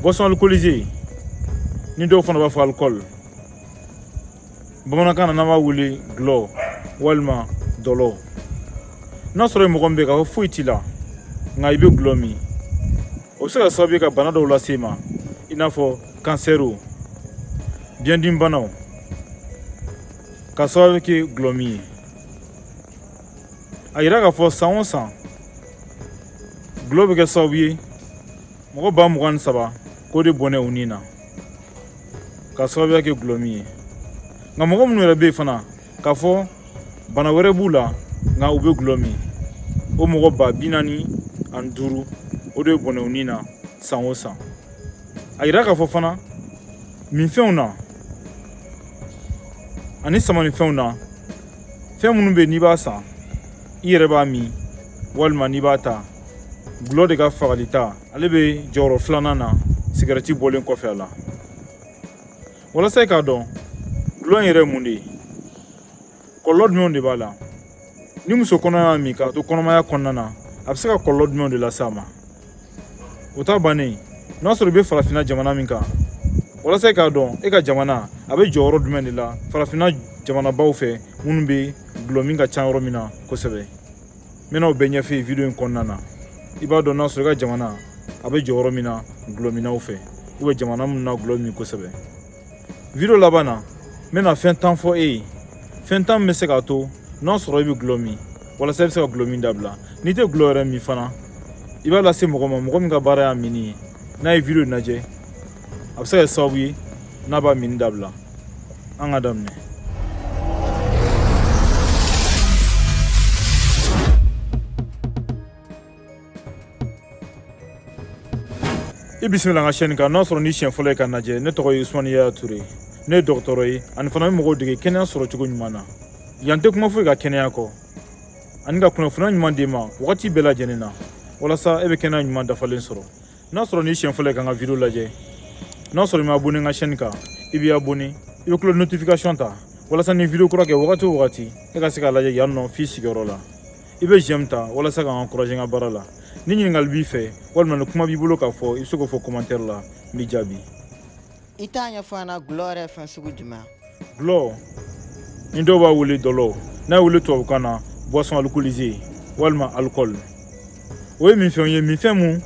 boisson alcoolisée ni dɔw fana b'a fɔ alikɔli bamanankan na n'an b'a wele gulɔ walima dɔlɔ n'a sɔrɔ mɔgɔ min bɛ k'a fɔ foyi t'i la nka i bɛ gulɔ min o bɛ se ka sababu ye ka bana dɔw lase i ma i n'a fɔ kansɛriw biɲɛdimi banaw ka sababu kɛ gulɔ min ye a yira k'a fɔ san o san gulɔ bɛ kɛ sababu ye mɔgɔ ba mugan ni saba k'o de bɔnɛ u ni na ka sababuya kɛ gulɔ min ye nka mɔgɔ minnu yɛrɛ bɛ yen fana k'a fɔ bana wɛrɛ b'u la nka u bɛ gulɔ min o mɔgɔ ba bi naani ani duuru o de bɔnɛ u ni na san o san a yira k'a fɔ fana minfɛnw na ani samanifɛnw na fɛn minnu bɛ n'i b'a san i yɛrɛ b'a min walima n'i b'a ta gulɔ de ka fagali ta ale bɛ jɔyɔrɔ filanan na sigɛrɛti bɔlen kɔfɛ a la walasa i k'a dɔn gulɔ in yɛrɛ ye mun de ye kɔlɔlɔ jumɛnw de b'a la ni muso kɔnɔma y'a min k'a to kɔnɔmaya kɔnɔna na a bɛ se ka kɔlɔlɔ jumɛnw de lase a ma o ta bannen n'a sɔrɔ i bɛ farafinna jamana min kan walasa i k'a dɔn e ka jamana a bɛ jɔyɔrɔ jumɛn de la farafinna jamanabaw fɛ minnu bɛ gulɔ min ka ca yɔrɔ min na kosɛbɛ n bɛna o bɛɛ ɲɛfɔ i ye video in kɔnɔna na i b'a dɔn n'a sɔrɔ i ka jamana a bɛ jɔyɔrɔ min na gulɔminnaw fɛ u bɛ jamana minnu na gulɔ min kosɛbɛ video laban na n bɛna fɛn tan fɔ e ye fɛn tan min bɛ se k'a to n'a sɔrɔ i bɛ gulɔ min walasa i bɛ se ka gulɔ min dabila n'i tɛ gulɔ yɛrɛ min fana i b'a lase mɔgɔ ma mɔgɔ min ka baara y'a minni ye n'a ye video lajɛ a bɛ se ka kɛ sababu ye n'a b'a minni dabila an ka daminɛ i bisimila n ka chaîne kan n'a sɔrɔ ni siɲɛ fɔlɔ ye ka lajɛ ne tɔgɔ ye usumani yaya ture ne ye dɔgɔtɔrɔ ye ani fana bɛ mɔgɔw dege kɛnɛya sɔrɔ cogo ɲuman na yan n tɛ kuma foyi kan kɛnɛya kɔ ani ka kunnafoni ɲuman d'i ma wagati bɛɛ lajɛlen na walasa e bɛ kɛnɛya ɲuman dafalen sɔrɔ n'a sɔrɔ ni siɲɛ fɔlɔ ye ka n ka video lajɛ n'a sɔrɔ i ma abonné n ka chaîne kan i b'i abonné i bɛ cloche notification ta walasa ni video kura kɛ wagati o wagati e ka se k'a lajɛ yan nɔ f'i sigiyɔrɔ la i bɛ j'aime ta walasa ka n encourager n ka baara la ni ɲininkali b'i fɛ walima ni kuma b'i bolo k'a fɔ i bɛ se k'o fɔ commentaire la n b'i jaabi i t'a ɲɛfɔ an na gulɔ yɛrɛ fɛn sugu jumɛn gulɔ ni dɔw b'a wele dɔlɔ n'a wele tubabukan na boisson alcoolisée walima alcool o ye minfɛnw ye minfɛn min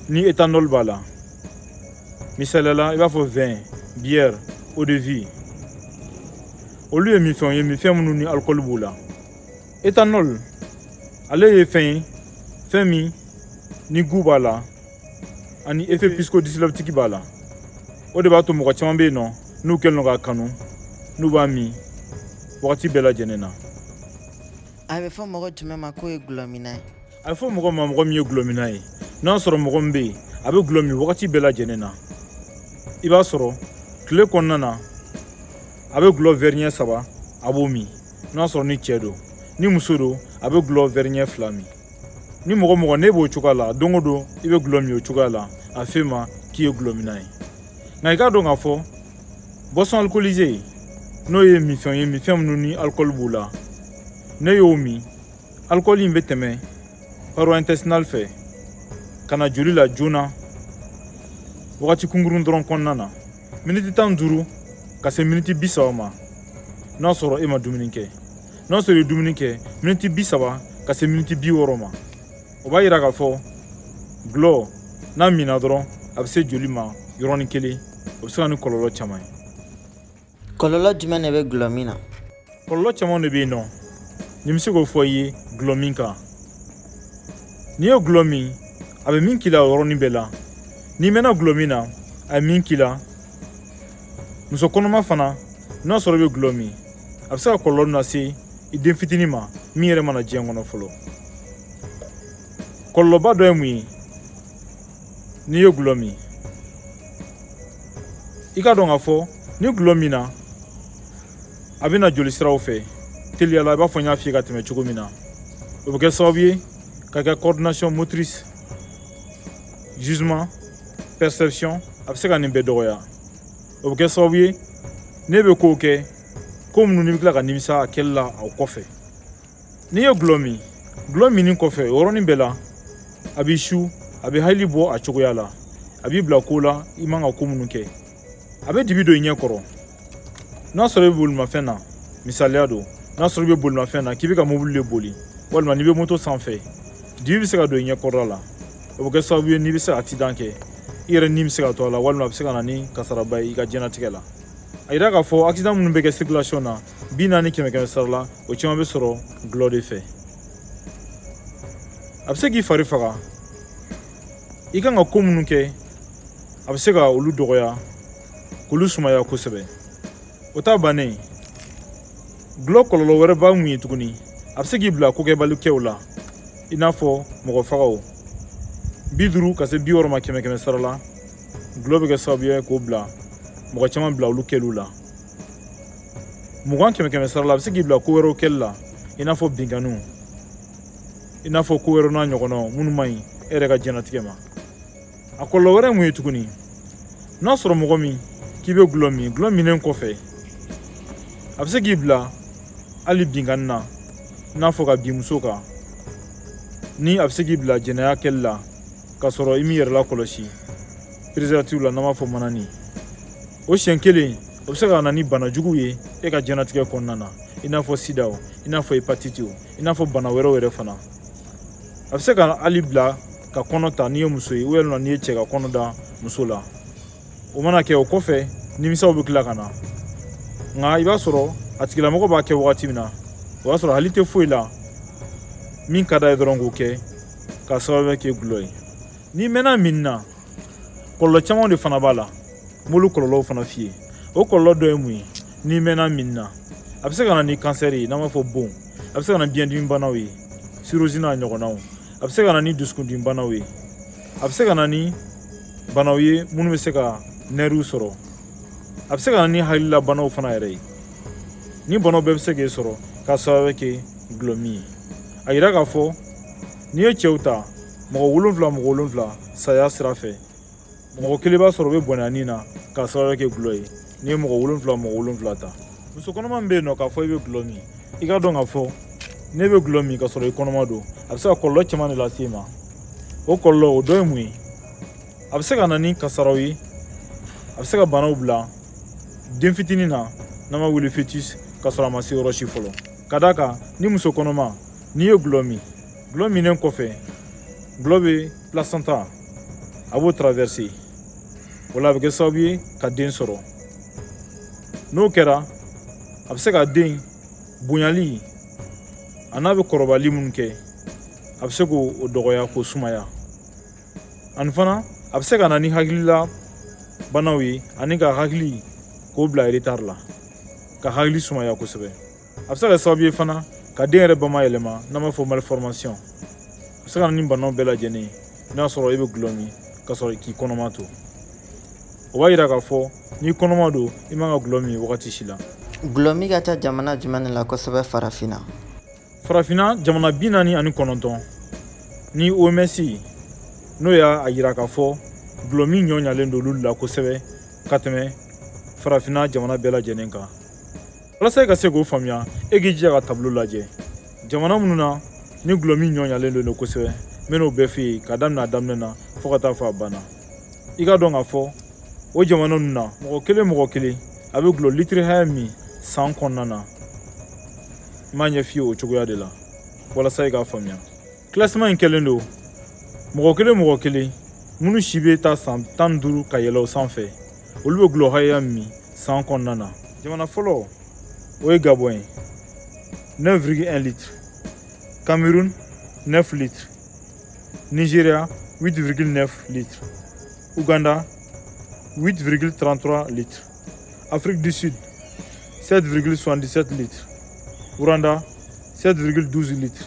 ni éthanol b'a la misaliya la i b'a fɔ vin bière eau de vie olu ye minfɛnw ye minfɛn minnu ni alcool b'u la etanɔl ale ye fɛn ye fɛn min ni gu b'a la ani effet psychodysleptique b'a la o de b'a to mɔgɔ caman bɛ yen nɔ n'u kɛlen don k'a kanu n'u b'a min wagati bɛɛ lajɛlen na a bɛ fɔ mɔgɔ jumɛn ma k'o ye gulɔminna ye a bɛ fɔ mɔgɔ ma mɔgɔ min ye gulɔminna ye n'a sɔrɔ mɔgɔ min bɛ yen a bɛ gulɔ min wagati bɛɛ lajɛlen na i b'a sɔrɔ tile kɔnɔna na a bɛ gulɔ wɛri ɲɛ saba a b'o min n'a sɔrɔ ni cɛ don ni muso don a bɛ gulɔ wɛri ɲɛ fila min ni mɔgɔ o mɔgɔ n'e b'o cogoya la don o don i bɛ gulɔ min o cogoya la a f'e ma k'i ye gulɔminna ye nka i k'a dɔn k'a fɔ boisson alcoolisée n'o ye minfɛnw ye minfɛn minnu ni alikɔli b'u la n'e y'o min alikɔli in bɛ tɛmɛ paroi intestinale fɛ ka na joli la joona wagati kunkurun dɔrɔn kɔnɔna na miniti tan duuru ka se miniti bi saba ma n'a sɔrɔ e ma dumuni kɛ n'a sɔrɔ i ye dumuni kɛ miniti bi saba ka se miniti bi wɔɔrɔ ma o b'a yira k'a fɔ gulɔ n'a minna dɔrɔn a bɛ se joli ma yɔrɔnin kelen o bɛ se ka ni kɔlɔlɔ caman ye kɔlɔlɔ jumɛn de bɛ gulɔ min na kɔlɔlɔ caman de bɛ yen nɔ ni bɛ se k'o fɔ i ye gulɔ min kan n'i ye gulɔ min a bɛ min k'i la o yɔrɔnin bɛɛ la n'i mɛnna gulɔ min na a bɛ min k'i la muso kɔnɔma fana n'a sɔrɔ i bɛ gulɔ min a bɛ se ka kɔlɔlɔ lase i den fitinin ma min yɛrɛ ma na diɲɛ kɔnɔ fɔlɔ kɔlɔlɔba dɔ ye mun ye n'i ye gulɔ min i k'a dɔn k'a fɔ ni gulɔ minna a bɛ na joli siraw fɛ teliya la i b'a fɔ n y'a f'i ye ka tɛmɛ cogo min na o bɛ kɛ sababu ye ka kɛ coordination motrice jugement perception a bɛ se ka nin bɛɛ dɔgɔya o bɛ kɛ sababu ye n'e bɛ kow kɛ ko minnu n'i bɛ tila ka nimisa a kɛli la o kɔfɛ n'i ye gulɔ min gulɔ minni kɔfɛ o yɔrɔnin bɛɛ la a b'i su a bɛ hakili bɔ a cogoya la a b'i bila ko la i man ka ko minnu kɛ a bɛ dibi don i ɲɛ kɔrɔ n'a sɔrɔ i bɛ bolimafɛn na misaliya don n'a sɔrɔ i bɛ bolimafɛn na k'i bɛ ka mobili de boli walima n'i bɛ moto sanfɛ dibi bɛ se ka don i ɲɛ kɔrɔla la o bɛ kɛ sababu ye n'i bɛ se ka akisidan kɛ i yɛrɛ ni bɛ se ka to a la walima a bɛ se ka na ni kasaraba ye i ka diɲɛnatigɛ la a yira k'a fɔ akisidan minnu bɛ kɛ circulation na bi naani kɛmɛ kɛmɛ sara la o caman bɛ sɔrɔ gulɔ de fɛ a bɛ se k'i fari faga i kan ka ko minnu kɛ a bɛ se ka olu dɔgɔya k'olu sumaya kosɛbɛ o t'a bannen gulɔ kɔlɔlɔ wɛrɛ ba mun ye tuguni a bɛ se k'i bila kokɛbali kɛw la i n'a fɔ mɔgɔfagaw bi duuru ka se bi wɔɔrɔ ma kɛmɛ kɛmɛ sara la gulɔ bɛ kɛ sababu ye k'o bila mɔgɔ caman bila olu kɛliw la mugan kɛmɛ kɛmɛ sara la a bɛ se k'i bila ko wɛrɛw kɛli la i n'a fɔ binkanniw i n'a fɔ ko wɛrɛw n'a ɲɔgɔnnaw minnu man ɲi e yɛrɛ ka diɲɛnatigɛ ma a kɔlɔlɔ wɛrɛ mun ye tuguni n'a sɔrɔ mɔgɔ min k'i bɛ gulɔ min gulɔ minnen kɔfɛ a bɛ se k'i bila hali binkanni na i n'a fɔ ka bin muso kan ni a bɛ se k'i bila jɛnɛya kɛli la k'a sɔrɔ i m'i yɛrɛ lakɔlɔsi preservatif la n'an b'a fɔ manani o siɲɛ kelen o bɛ se ka na ni bana juguw ye e ka jɛnatigɛ kɔnɔna na i n'a fɔ sidaw i n'a fɔ hepatitiw i n'a fɔ bana wɛrɛw yɛrɛ fana a bɛ se ka hali i bila ka kɔnɔ ta n'i ye muso ye walima n'i ye cɛ ka kɔnɔ da muso la o mana kɛ o kɔfɛ nimisaw bɛ tila ka na nka i b'a sɔrɔ a tigilamɔgɔ b'a kɛ wagati min na o y'a sɔrɔ hakili tɛ foyi la min ka d'a ye dɔrɔn k'o kɛ k'a sababu kɛ gulɔ ye n'i mɛnna min na kɔlɔlɔ caman de fana b'a la n b'olu kɔlɔlɔw fana f'i ye o kɔlɔlɔ dɔ ye mun ye n'i mɛnna min na a bɛ se ka na ni kansɛri ye n'an b'a fɔ bon a bɛ se ka na ni biɲɛdimi banaw ye sirozi n'a ɲɔgɔnnaw a bɛ se ka na ni dusukundimi banaw ye a bɛ se ka na ni banaw ye minnu bɛ se ka nɛriw sɔrɔ a bɛ se ka na ni hakilila banaw fana yɛrɛ ye nin banaw bɛɛ bɛ se k'e sɔrɔ k'a sababu kɛ gulɔ min ye a yira k'a fɔ n'i ye cɛw ta mɔgɔ wolonfila mɔgɔ wolonfila saya sira fɛ mɔgɔ kelen b'a sɔrɔ o bɛ bɔnɛ a ni na k'a sababu kɛ gulɔ ye n'i ye mɔgɔ wolonfila mɔgɔ wolonfila ta muso kɔnɔma min bɛ yen nɔ k'a fɔ i bɛ gulɔ min i k'a dɔn k'a fɔ n'i bɛ gulɔ min k'a sɔrɔ i kɔnɔma don a bɛ se ka kɔlɔlɔ caman de lase i ma o kɔlɔlɔ o dɔ ye mun ye a bɛ se ka na ni kasaraw ye a bɛ se ka banaw bila den fitinin na n'an b'a wele fetus k'a sɔrɔ a ma se yɔrɔ si fɔlɔ ka d'a kan ni muso kɔnɔma n'i ye gulɔ min gulɔ minnen kɔfɛ gulɔ bɛ placenta a b'o tarawɛrise o la a bɛ kɛ sababu ye ka den sɔrɔ n'o kɛra a bɛ se ka den bonyali an'a bɛ kɔrɔbali minnu kɛ a bɛ se k'o dɔgɔya k'o sumaya ani fana a bɛ se ka na ni hakilila banaw ye ani k'a hakili k'o bila eretari la k'a hakili sumaya kosɛbɛ a bɛ se ka kɛ sababu ye fana ka den yɛrɛ bama yɛlɛma n'an b'a fɔ malformation a bɛ se ka na ni banaw bɛɛ lajɛlen ye n'a sɔrɔ e bɛ gulɔ min ka sɔrɔ k'i kɔnɔma to o b'a yira k'a fɔ n'i kɔnɔma don i man ka gulɔ min wagati si la gulɔ min ka ca jamana jumɛn de la kosɛbɛ farafinna farafinna jamana bi naani ani kɔnɔntɔn ni oms n'o y'a yira k'a fɔ gulɔ min nɔgɔyalen don olu la kosɛbɛ ka tɛmɛ farafinna jamana bɛɛ lajɛlen kan walasa e ka se k'o faamuya e k'i jija ka tableau lajɛ jamana minnu na ni gulɔmin nɔgɔyalen don kosɛbɛ n bɛn'o bɛɛ f'i ye ka daminɛ a daminɛ na fɔɔ ka taa fɔ a banna i k'a dɔn k'a fɔ o jamana ninnu na mɔgɔ kelen mɔgɔ kelen a bɛ gulɔ litiri hakɛya min san kɔnɔna na n b'a ɲɛ f'i ye o cogoya de la walasa i k'a faamuya classement in kɛlen don mɔgɔ kelen mɔgɔ kelen minnu si bɛ taa san tan ni duuru ka yɛlɛ o sanfɛ olu bɛ gulɔ hakɛya min san kɔnɔna na jamana fɔlɔ o ye gabon ye 9,1 litre cameroun 9 litre nigeria 8,9 litre uganda 8,33 litre afrique du sud 7,77 litre rwanda 7,12 litre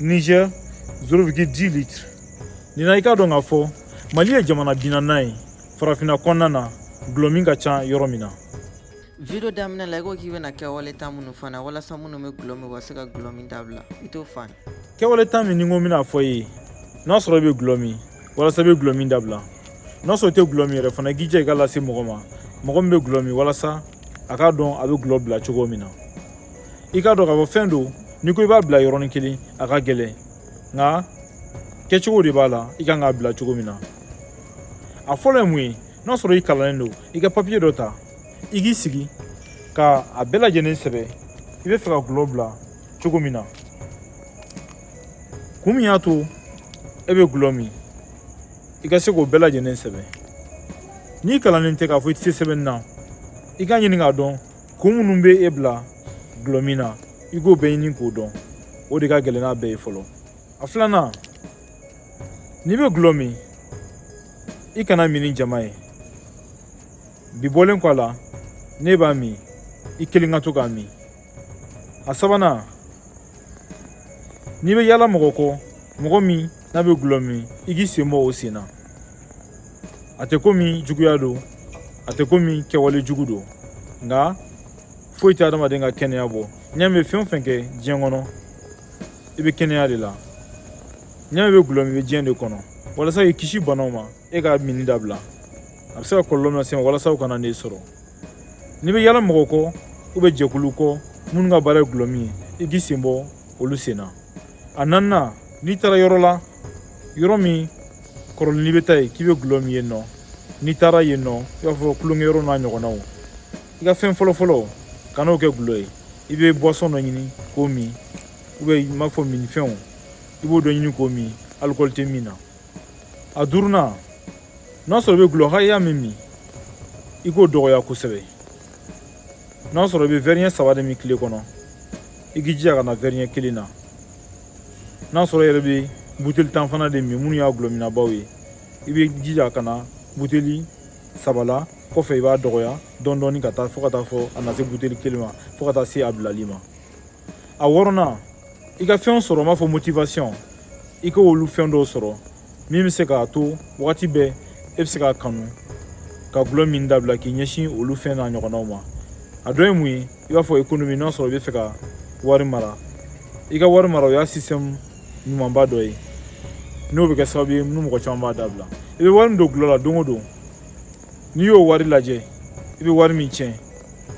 Niger 0,10 litre nin na i k'a dɔn k'a fɔ mali ye jamana bi naaninan ye farafinna kɔnɔna na gulɔ min ka ca yɔrɔ min na video daminɛ la i ko k'i bɛna kɛwale tan minnu f'an ye walasa minnu bɛ gulɔ min u ka se ka gulɔ min dabila i t'o f'an ye kɛwale tan min n ko n bɛn'a f'i ye n'a sɔrɔ i bɛ gulɔ min walasa i bɛ gulɔ min dabila n'a sɔrɔ i tɛ gulɔ min yɛrɛ fana i k'i jija i k'a lase mɔgɔ ma mɔgɔ min bɛ gulɔ min walasa a k'a dɔn a bɛ gulɔ bila cogo min na i k'a dɔn k'a fɔ fɛn don n'i ko i b'a bila yɔrɔnin kelen a ka gɛlɛn nka kɛcogo de b'a la i kan k'a bila cogo min na a fɔlɔ ye mun ye n'a sɔrɔ i kalannen don i ka papiye dɔ ta i k'i sigi ka a bɛɛ lajɛlen sɛbɛn i bɛ fɛ ka gulɔ bila cogo min na kun min y'a to e bɛ gulɔ min i ka se k'o bɛɛ lajɛlen sɛbɛn n'i kalannen tɛ k'a fɔ i tɛ se sɛbɛnni na i k'a ɲini k'a dɔn kun minnu bɛ e bila gulɔ min na i k'o bɛɛ ɲini k'o dɔn o de ka gɛlɛn n'a bɛɛ ye fɔlɔ a filanan n'i bɛ gulɔ min i kan'a min ni jama ye bi bɔlen kɔ a la n'i b'a min i kelen ka to k'a min a sabanan n'i bɛ yaala mɔgɔ kɔ mɔgɔ min n'a bɛ gulɔ min i k'i sen bɔ o sen na a tɛ komi juguya don a tɛ komi kɛwale jugu don nka foyi tɛ adamaden ka kɛnɛya bɔ n'i y'a mɛn i bɛ fɛn o fɛn kɛ diɲɛ kɔnɔ i bɛ kɛnɛya de la n'i y'a mɛn i bɛ gulɔ min i bɛ diɲɛ de kɔnɔ walasa k'i kisi banaw ma e ka minni dabila a bɛ se ka kɔlɔlɔ min lase i ma walasa o kana n'e sɔrɔ n'i bɛ yala mɔgɔ kɔ ou bien jɛkulu kɔ minnu ka baara ye gulɔ min ye i k'i sen bɔ olu sen na a naaninan n'i taara yɔrɔ la yɔrɔ min kɔrɔlen n'i bɛ taa yen k'i bɛ gulɔ min yen nɔ n'i taara yen nɔ i b'a fɔ kulonkɛyɔrɔ n'a ɲɔgɔnnaw i ka fɛn fɔlɔfɔlɔ kana kɛ gulɔ ye i bɛ buwasɔn dɔ ɲini k'o min i b'a fɔ minnifɛnw i b'o dɔ ɲini k'o min alikɔli tɛ min na a duurunan n'a sɔrɔ i bɛ gulɔ hakɛya min min i k'o dɔgɔya kosɛbɛ n'a sɔrɔ i bɛ wɛri ɲɛ saba de min tile kɔnɔ i k'i jija ka na wɛri ɲɛ kelen na n'a sɔrɔ yɛrɛ bɛ buteli tan fana de min minnu y'a gulɔminnabaw ye i b'i jija ka na buteli saba la kɔfɛ i b'a dɔgɔya dɔɔni dɔɔni ka taa fo ka taa fo a na se buteli kelen ma fo ka taa se a bilali ma a wɔɔrɔnan i ka fɛnw sɔrɔ i b'a fɔ motivation i k'olu fɛn dɔw sɔrɔ min bɛ se k'a to wagati bɛɛ e bɛ se k'a kanu ka gulɔ min dabila k'i ɲɛsin olu fɛn n'a ɲɔgɔnnaw ma a dɔ ye mun ye i b'a fɔ ekonomi n'a sɔrɔ i bɛ fɛ ka wari mara i ka wari mara o y'a sisitɛmu ɲumanba dɔ ye n'o bɛ kɛ sababu ye ni mɔgɔ caman b'a dabila i bɛ wari min don gulɔ la don o don n'i y'o wari lajɛ i bɛ wari min tiɲɛ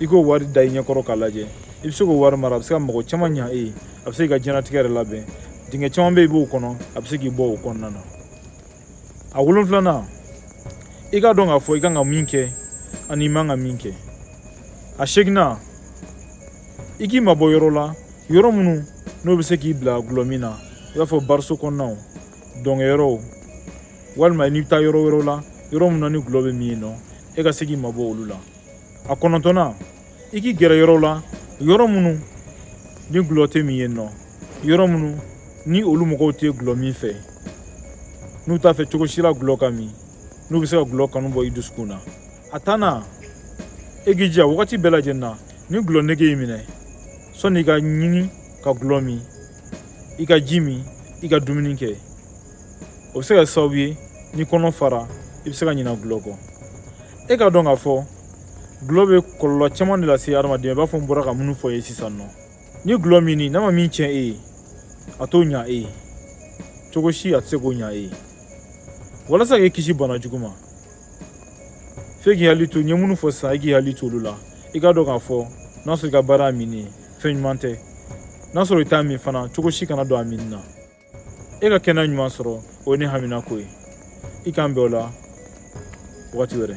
i k'o wari da i ɲɛkɔrɔ k'a lajɛ i bɛ se k'o wari mara a bɛ se ka mako caman ɲa e ye a bɛ se k'i ka diɲɛnatigɛ yɛrɛ labɛn dingɛ caman bɛ yen i b'o kɔnɔ a bɛ se k'i bɔ o kɔnɔna na a wolonfilanan i k'a dɔn k'a fɔ i kan ka min kɛ ani i man ka min kɛ a seeginnan i k'i mabɔ yɔrɔ la yɔrɔ minnu n'o bɛ se k'i bila gulɔ min na i b'a fɔ bariso kɔnɔnaw dɔnkɛyɔrɔw walima n'i bɛ taa yɔrɔ wɛrɛw la yɔrɔ minnu na ni gulɔ bɛ min yen nɔ e ka se k'i mabɔ olu la a kɔnɔntɔnnan i k'i gɛrɛ yɔrɔw la yɔrɔ minnu ni gulɔ tɛ min yen nɔ yɔrɔ minnu ni olu mɔgɔw tɛ gulɔ min fɛ n'u t'a fɛ cogo si la gulɔ ka min n'u bɛ se ka gulɔ kanu bɔ i dusukun na a tannan e k'i jija wagati bɛɛ lajɛlen na ni gulɔ nege y'i minɛ sɔni i k'a ɲini ka gulɔ min i ka ji min i ka dumuni kɛ o bɛ se ka sababu ye n'i kɔnɔ fara i bɛ se ka ɲina gulɔ kɔ e k'a dɔn k'a fɔ gulɔ bɛ kɔlɔlɔ caman de lase hadamaden ma i b'a fɔ n bɔra ka minnu fɔ i ye sisan nɔ ni gulɔ minni n'a ma min tiɲɛ e ye a t'o ɲa e ye cogo si a tɛ se k'o ɲa e ye walasa k'i kisi bana jugu ma f'e k'i hakili to n ye minnu fɔ sisan i k'i hakili to olu la i k'a dɔn k'a fɔ n'a sɔrɔ i ka baara y'a min ye fɛn ɲuman tɛ n'a sɔrɔ i t'a min fana cogo si kana don a min na e ka kɛnɛya ɲuman sɔrɔ o ye ne haminako ye i k'an bɛn o la wagati wɛrɛ